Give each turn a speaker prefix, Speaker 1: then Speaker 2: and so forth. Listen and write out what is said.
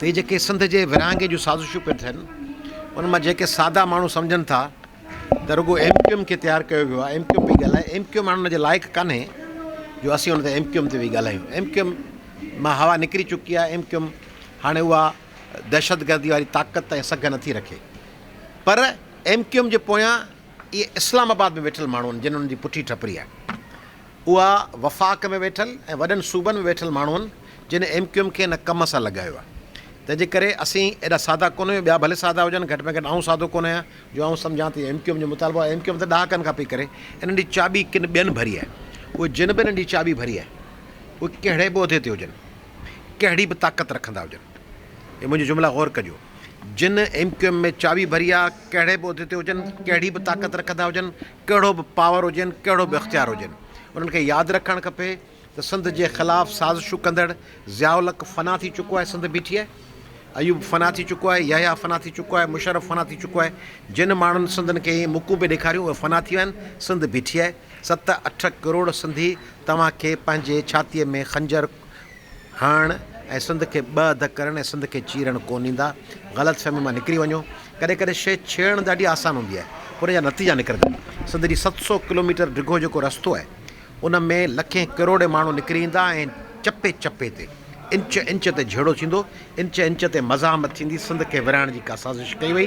Speaker 1: هي جيڪي سنڌ جي ورهاڱي جون سازشون پيون ٿين ان مان جيڪي سادا ماڻهو سمجهن ٿا ته رڳو ايم ڪيو ايم کي تيار ڪيو ويو آهي ايم ڪيو ايم پئي ڳالهائي ايم ڪيو ايم هاڻ ان جي لائق ڪانهي جو اسين ان تي ايم ڪيو ايم تي ويهي ڳالهايون ايم ڪيو ايم مان هوا نڪري چڪي آهي ايم ڪيو ايم هاڻي اها دهشتگردي واري طاقت ۽ سگهه نٿي رکي پر ايم ڪيو ايم جي پويان اهي اسلام آباد ۾ ويٺل ماڻهو آهن جن ان جي پٺي ٺپري آهي اها وفاق ۾ ويٺل ۽ وڏن صوبن ۾ ويٺل ماڻهن جن ايم ڪيو ايم کي ان ڪم سان لڳايو آهي تنهن جي ڪري اسين ايڏا سادا ڪونه آهيون ٻيا ڀلي سادا هجن گهٽ ۾ گهٽ آئون سادو ڪونه آهيان جو آئون سمجهان ته ايم ڪيو ايم جو مطالبو آهي ايم ڪيو ايم ته ڏهاڪن کان پئي ڪري انهن جي چاٻي ڪن ٻين ڀري آهي اهي جن به انهن جي چاٻي ڀري آهي اهي ڪهڙي به عهدي تي هجن ڪهڙي به طاقت رکندا هجن اهي منهنجي جملا غور ڪجو جن ايم ڪيو ايم ۾ چاٻي ڀري آهي ڪهڙي به عهدي تي هجن ڪهڙي به طاقت رکندا هجن ڪهڙو به پاور هجين، ڪهڙو به اختيار هجين، انهن کي ياد رکڻ کپي ته سنڌ جي خلاف سازشون ڪندڙ ضياء الحق فنا ٿي چڪو آهي، سنڌ بيٺي آهي، ايوب فنا ٿي چڪو آهي، يحيٰ فنا ٿي چڪو آهي، مشرف فنا ٿي چڪو آهي، جن ماڻهن سنڌن کي اهي مڪون به ڏيکاريون اهي فنا ٿي ويا آهن، سنڌ بيٺي آهي، ست اٺ ڪروڙ سنڌي توهان کي پنهنجي ڇاتيء ۾ خنجر هڻڻ ۽ سنڌ کي ٻه اڌ ڪرڻ ۽ سنڌ کي چيرڻ ڪونه ايندا. غلط فهمي مان نڪري وڃو. ڪڏهن ڪڏهن شيء ڇيڙڻ ڏاڍي آسان هوندي آهي پر ان جا نتيجا نڪرندا. سنڌ جي ست سؤ ڪلوميٽر ڊگهو جيڪو رستو آهي ان ۾ لکين ڪروڙين ماڻهو نڪري ايندا ۽ چپي چپي تي انچ انچ تي جهيڙو ٿيندو. انچ انچ تي مزاحمت ٿيندي. سنڌ کي ورهائڻ جي ڪا سازش ڪئي وئي.